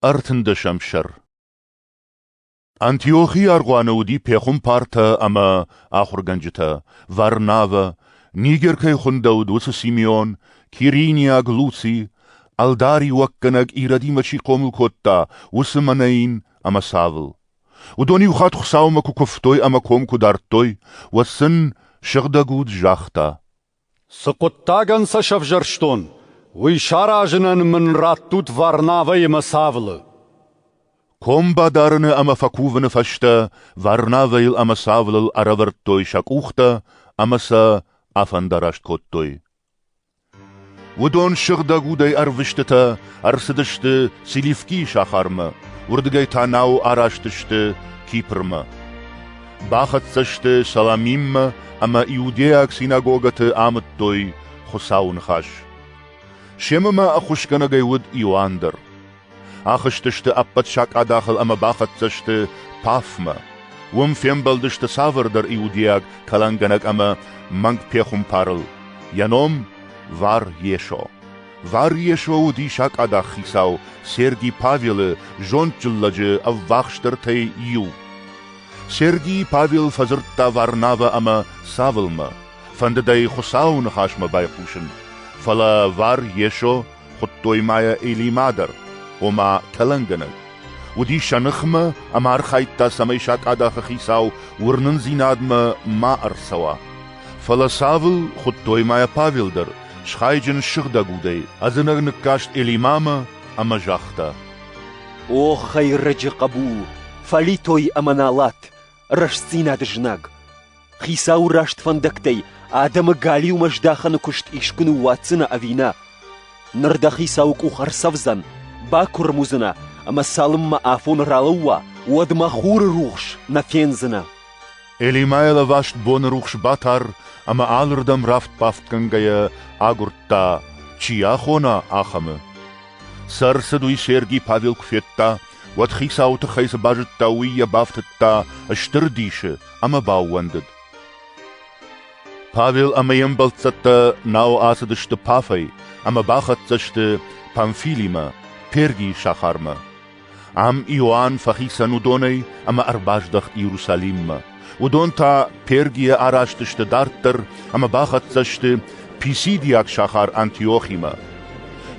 Ӕртындӕсӕм сӕр Антиохийы аргъуаны уыди пехуымпартӕ ӕмӕ ахуыргӕнджытӕ Варнавӕ, Нигер кӕй хуындӕуыд, уыцы Симеон, Кириниаг Луци, ӕлдариуӕггӕнӕг ирӕдимӕ чи хъомыл кодта, уыцы Манаин ӕмӕ Савл. Уыдон иу хатт Хуыцаумӕ куы куывтой ӕмӕ ком куы дардтой, уӕд сын сыгъдӕг уд загъта: Цы хъуыддагӕн сӕ сӕвзӕрстон, уый саразынӕн мын раттут Варнавӕ ӕмӕ Савлы. Ком бадарыны ӕмӕ фӕкувыны фӕстӕ Варнавӕйыл ӕмӕ Савлыл ӕрӕвӕрдтой сӕ къухтӕ ӕмӕ сӕ афӕндараст кодтой. Уыдон сыгъдӕг удӕй ӕрвыстытӕ ӕрцыдысты Селивкийы сахармӕ, уырдыгӕй та нау араст сты Кипрмӕ. Бахӕццӕ сты Саламиммӕ ӕмӕ иудейаг синагогӕты амыдтой Хуыцауы ныхас. Семӕ ма ӕххуысгӕнӕгӕй уыд Иоанн дӕр. Ахызтысты ӕппӕт сакъадахыл ӕмӕ бахӕццӕ сты Пафмӕ. Уым фембӕлдысты цавӕрдӕр иудейаг кӕлӕнгӕнӕг ӕмӕ мӕнгпехуымпарыл. Йӕ ном Вар Есо. Вар Есо уыди сакъадах хицау Серги Павелы зондджын лӕджы ӕввахсдӕртӕй иу. Сергий Павел фӕдзырдта Варнавӕ ӕмӕ Савлмӕ, фӕндыд ӕй Хуыцауы ныхасмӕ байхъусын, фӕлӕ Вар Есо хуыдтой ма йӕ Элима дӕр, ома тӕлӕнгӕнӕг. Уыди сӕ ныхмӕ ӕмӕ архайдта, цӕмӕй сакъадахы хицау уырнындзинадмӕ ма ӕрцӕуа. Фӕлӕ Савл хуыдтой ма йӕ Павел дӕр, схайджын сыгъдӕг удӕй, ӕдзынӕг ныккаст Элимамӕ ӕмӕ загъта: О, хӕйрӕджы хъӕбул, фӕлитой ӕмӕ налат, рӕстдзинады знаг! Хицауы раст фӕндӕгтӕй адӕмы галиумӕ здахӕны куыст искуы ныууадздзынӕ ӕви нӕ? Ныр дӕ хицауы къух ӕрцӕвдзӕн, бакуырм уыдзынӕ ӕмӕ цалынмӕ афон ралӕууа, уӕдмӕ хуры рухс нӕ фендзынӕ. Элимӕ лӕваст боны рухс батар ӕмӕ алырдӕм рафт-бафтгӕнгӕйӕ агуырдта, чи ахона, ахӕмы. Цы ӕрцыд, уый Серги Павел куы федта, уӕд хицауы тыххӕй цы базыдта, уый йӕ бафтыдта стыр дисы ӕмӕ баууӕндыд. Павел ӕмӕ йе мбӕлццӕттӕ нау ацыдысты Пафӕй ӕмӕ бахӕццӕ сты Памфилимӕ, Пергийы сахармӕ. Ам Иоанн фӕхицӕн уыдонӕй ӕмӕ ӕрбаздӕхт Иерусалиммӕ. Уыдон та Пергийӕ араст сты дарддӕр ӕмӕ бахӕццӕ сты писидийаг сахар Антиохимӕ.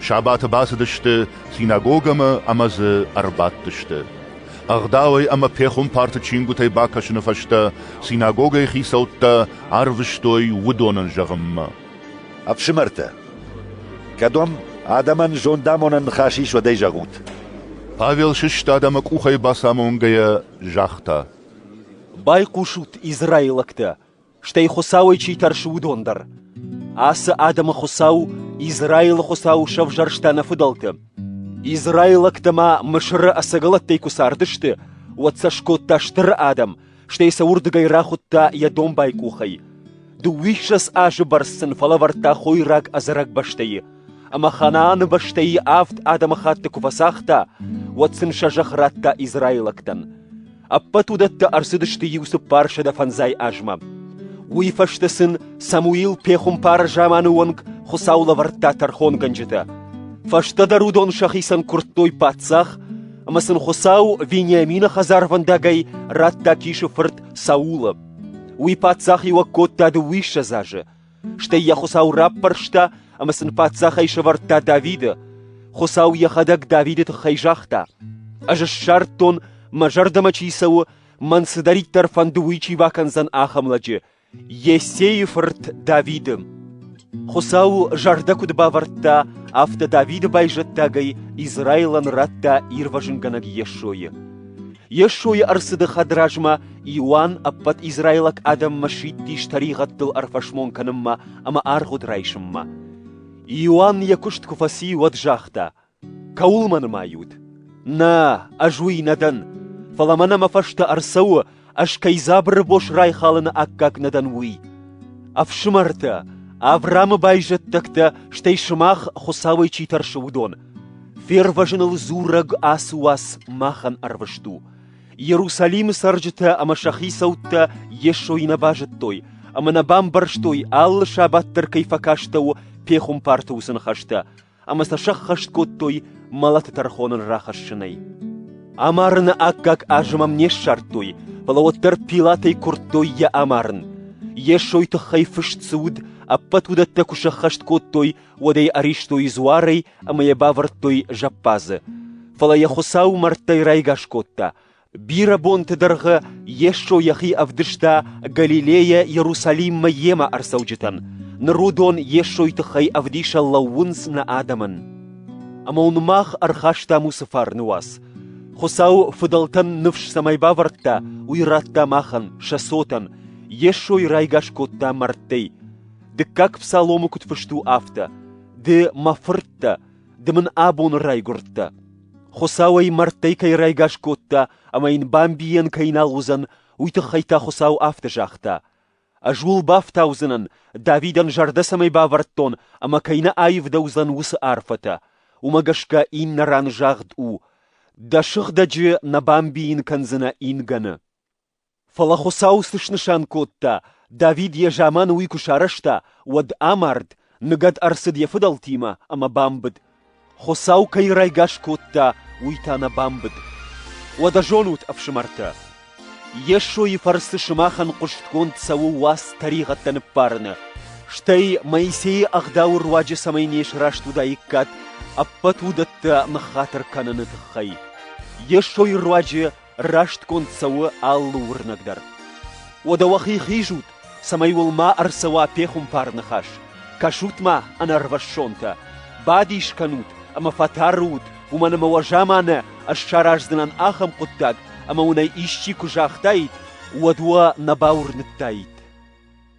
Сабаты бацыдысты синагогӕмӕ ӕмӕ дзы ӕрбадтысты. Ӕгъдауӕй ӕмӕ пехуымпарты чингуытӕй бакӕсыны фӕстӕ синагогӕйы хицӕуттӕ арвыстой уыдонӕн зӕгъынмӕ. Ӕфсымӕртӕ, кӕд уӕм адӕмӕн зондамонӕн ныхас ис, уӕд ӕй зӕгъут. Павел, сыст адӕмы къухӕй бацамонгӕйӕ, загъта. Байхъусут, израилӕгтӕ, стӕй Хуыцауӕй чи тӕрсы, уыдон дӕр. Ацы адӕмы Хуыцау Израилы Хуыцау сӕвзӕрста нӕ фыдӕлты. Израилӕгтӕ ма Мысыры ӕцӕгӕлӕттӕй куы цардысты, уӕд сӕ скодта стыр адӕм, стӕй сӕ уырдыгӕй рахуыдта йӕ домбай къухӕй. Дыууиссӕдз азы бӕрц сын фӕлӕвӕрдта хойраг ӕдзӕрӕг бӕстӕйы, ӕмӕ Ханааны бӕстӕйы авд адӕмыхатты куы фӕцагъта, уӕд сын сӕ зӕхх радта израилӕгтӕн. Ӕппӕт уыдӕттӕ ӕрцыдысты иу цыппарсӕдӕ фӕндзай азмӕ. Уый фӕстӕ сын Самуил пехуымпары заманы онг Хуыцау лӕвӕрдта тӕрхонгӕнджытӕ. Фӕстӕдӕр уыдон сӕхицӕн куырдтой паддзах, ӕмӕ сын Хуыцау Вениамины хӕдзарвӕндагӕй радта Кисы фырт Саулы. Уый паддзахиуӕг кодта дыууиссӕдз азы, стӕй йӕ Хуыцау раппӕрста ӕмӕ сын паддзахӕй сӕвӕрдта Давиды. Хуыцау йӕхӕдӕг Давиды тыххӕй загъта: «Ӕз ссардтон, мӕ зӕрдӕмӕ чи цӕуы, мӕн цыдӕриддӕр фӕнды, уый чи бакӕндзӕн ахӕм лӕджы, Йессейы фырт Давиды Хуыцау зӕрдӕ куыд бавӕрдта, афтӕ Давиды байзӕддагӕй Израилӕн радта ирвӕзынгӕнӕг Йесойы. Йесойы ӕрцыды хӕдразмӕ Иоанн ӕппӕт израилаг адӕммӕ сидтис тӕригъӕдтыл ӕрфӕсмон кӕнынмӕ ӕмӕ аргъуыд райсынмӕ. Иоанн йӕ куыст куы фӕци, уӕд загъта: Кӕуыл мӕ нымайут? Нӕ, ӕз уый нӕ дӕн, фӕлӕ мӕнӕ мӕ фӕстӕ ӕрцӕуы, ӕз кӕй дзабыры бос райхалыны аккаг нӕ дӕн, уый. Ӕфсымӕртӕ, Авраамы байзӕддӕгтӕ, стӕй сымах Хуыцауӕй чи тӕрсы, уыдон, фервӕзыныл дзурӕг ацы уац махӕн ӕрвыст у. Иерусалимы цӕрджытӕ ӕмӕ сӕ хицӕуттӕ Йесойы нӕ базыдтой ӕмӕ нӕ бамбӕрстой, алы сабат дӕр кӕй фӕкастӕуы пехуымпарты уыцы ныхӕстӕ, ӕмӕ сӕ сӕххӕст кодтой мӕлӕты тӕрхоныл рахӕссынӕй. Амарыны аккаг азы мӕм не ссардтой, фӕлӕ уӕддӕр Пилатӕй куырдтой йӕ амарын. Йесой тыххӕй фыст цы уыд, ӕппӕт уыдӕттӕ куы сӕххӕст кодтой, уӕд ӕй ӕристой дзуарӕй ӕмӕ йӕ бавӕрдтой зӕппадзы. Фӕлӕ йӕ Хуыцау мӕрдтӕй райгас кодта, Бирӕ бонты дӕргъы Йесо йӕхи ӕвдыста Галилейӕ Иерусалиммӕ йемӕ ӕрцӕуджытӕн. Ныр уыдон Йесойы тыххӕй ӕвдисӕн лӕууынц нӕ адӕмӕн. Ӕмӕ уын мах ӕрхастам уыцы фарны уац. Хуыцау фыдӕлтӕн ныфс цӕмӕй бавӕрдта, уый радта махӕн, сӕ цотӕн, Йесойы райгас кодта мӕрдтӕй. Дыккаг псаломы куыд фыст у афтӕ: «Ды мӕ фырттӕ, Ды мын абоны райгуырдтӕ. Хуыцау ӕй мӕрдтӕй кӕй райгас кодта ӕмӕ йын бамбийӕн кӕй нал уыдзӕн, уый тыххӕй та Хуыцау афтӕ загъта: «Ӕз ууыл бафтаудзынӕн, Давидӕн зӕрдӕ цӕмӕй бавӕрдтон ӕмӕ кӕй нӕ аивдӕуыдзӕн уыцы арфӕтӕ». Уымӕ гӕсгӕ иннӕ ран загъд у: «Дӕ сыгъдӕджы нӕ бамбийын кӕндзынӕ ингӕны». Фӕлӕ Хуыцау цы снысан кодта, Давид йӕ заманы уый куы сарӕзта, уӕд амард, ныгӕд ӕрцыд йӕ фыдӕлтимӕ ӕмӕ бамбыд. Хуыцау кӕй райгас кодта, уый та нӕ бамбыд. Уӕдӕ зонут, ӕфсымӕртӕ, Йесойы фӕрцы сымахӕн хъуыстгонд цӕуы уац тӕригъӕдтӕ ныббарыны, стӕй Моисейы ӕгъдауы руаджы цӕмӕй не сраст уыдаиккат, ӕппӕт уыдӕттӕ ныххатыр кӕныны тыххӕй. Йесойы руаджы растгонд цӕуы алы уырнӕг дӕр. Уӕдӕ уӕхи хизут, цӕмӕй уыл ма ӕрцӕуа пехуымпар ныхас. Кӕсут-ма, ӕнӕрвӕссонтӕ! Бадис кӕнут ӕмӕ фӕтӕрут, уымӕн ӕмӕ уӕ заманӕ ӕз сараздзынӕн ахӕм хъуыддаг, ӕмӕ уынӕй исчи куы загътаид, уӕд уӕ нӕ бауырныдтаид.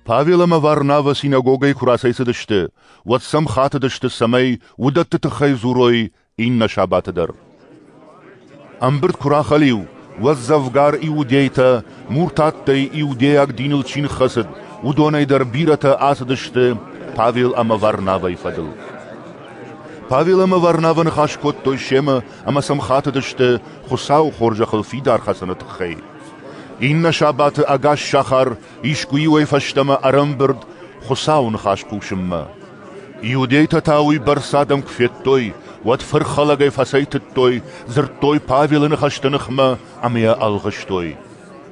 Павел ӕмӕ Варнавӕ синагогӕйы куы рацӕйцыдысты, уӕд сӕм хатыдысты, цӕмӕй уыдӕтты тыххӕй дзурой иннӕ сабаты дӕр. Ӕмбырд куы рахӕлиу, уӕд дзӕвгар иудейтӕ, муртаттӕй иудейаг диныл чи ныххӕцыд, уыдонӕй дӕр бирӕтӕ ацыдысты Павел ӕмӕ Варнавӕйы фӕдыл. Павел ӕмӕ Варнавӕ ныхас кодтой семӕ ӕмӕ сӕм хатыдысты Хуыцауы хорзӕхыл фидар хӕцыны тыххӕй. Иннӕ сабаты ӕгас сахар Искуы-иуӕй фӕстӕмӕ ӕрӕмбырд Хуыцауы ныхас хъусынмӕ. Иудейтӕ та уыйбӕрц адӕм куы федтой, уӕд фырхӕлӕгӕй фӕцӕйтыдтой, дзырдтой Павелы ныхӕсты ныхмӕ ӕмӕ йӕ ӕлгъыстой.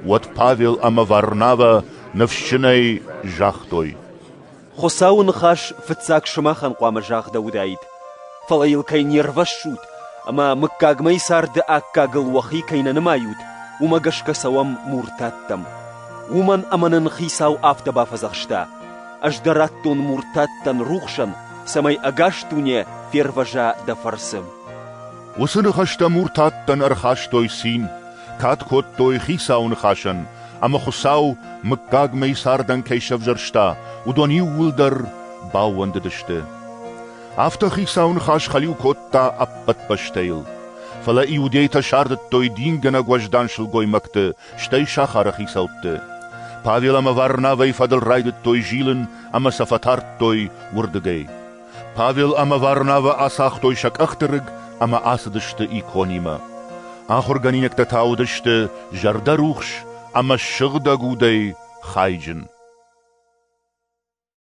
Уӕд Павел ӕмӕ Варнавӕ ныфсджынӕй загътой: Хуыцауы ныхас фыццаг сымахӕн хъуамӕ загъдӕуыдаид, фӕлӕ йыл кӕй не рвӕссут ӕмӕ мыггагмӕйы царды аккагыл уӕхи кӕй нӕ нымайут, уымӕ гӕсгӕ цӕуӕм муртаттӕм. Уымӕн ӕмӕ нын Хицау афтӕ бафӕдзӕхста: «Ӕз дӕ радтон муртаттӕн рухсӕн, цӕмӕй ӕгас дуне фервӕза дӕ фӕрцы». Уыцы ныхӕстӕ муртаттӕн ӕрхастой цин. кад кодтой Хицауы ныхасӕн, ӕмӕ Хуыцау, мыггагмӕ цардӕн кӕй сӕвзӕрста, уыдон иууылдӕр баууӕндыдысты. Афтӕ Хицауы ныхас хӕлиу кодта ӕппӕт бӕстӕйыл. Фӕлӕ иудейтӕ сардыдтой дингӕнӕг уӕздан сылгоймӕгты, стӕй сахары хицӕутты. Павел ӕмӕ Варнавӕйы фӕдыл райдыдтой зилын ӕмӕ сӕ фӕтардтой уырдыгӕй. Павел ӕмӕ Варнавӕ ацагътой сӕ къӕхты рыг ӕмӕ ацыдысты иконимӕ. Ахуыргӕнинӕгтӕ та уыдысты зӕрдӕрухс ӕмӕ сыгъдӕг удӕй хайджын.